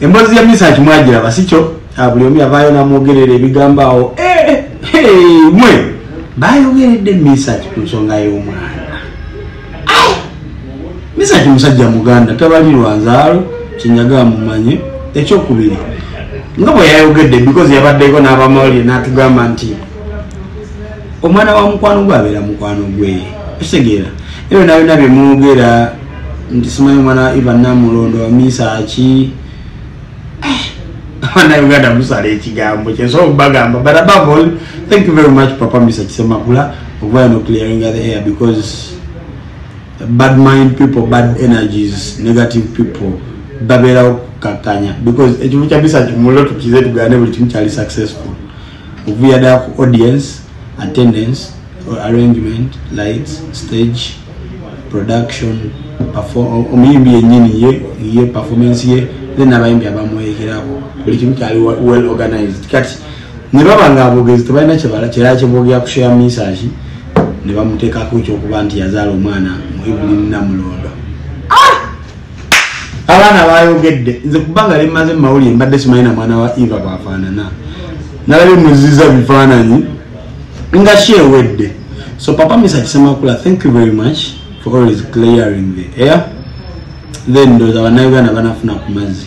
Embozi ya misa kimwajira basicho abuli ah, omi avayo na mwogerere ebigambo awo eh, eh, mwe bayogeredde misa ku nsonga y'omwana ah! misa ki musajja muganda tabali lwanzaalo kinyaga mumanye ekyokubiri nga bwe yayogedde because yabaddeko n'abamawulire n'atugamba nti omwana wa mukwano gwe abeera mukwano gwe ekitegeera ebyo nabyona bye mwogera nti simanyi omwana wa ivan namulondo wamiisa ki abana uganda musala ekigambo kyensobola okubagamba but above all thank you very much papa misa kisemakula okubayo noclearing the air because bad mind people bad energies negative people babeerawo kukakanya because ekimu kya misa kimulo tukize tugane buli kimu kyali successful okuvuya da ku audience attendance or arrangement lights stage production omuyimbi yenyini ye ye performance ye then abayimbi abamweyekeraku buli kimu kyali well organized kati ne baba nga abogezi tebalina kyebala kyera kyebogera kushare message ne bamuteekako ekyokuba nti yazaala omwana mu evelyn namulondo ah! abaana bayogedde nze kubanga limaze mumawulire mbadde simanyi na mwana wa eva bwafaanana nalabye muziza bifaananyi nga ki ewedde so papa misa kisemakula thank you very much for always clearing the air then ndoza banauganda banafuna ku mazzi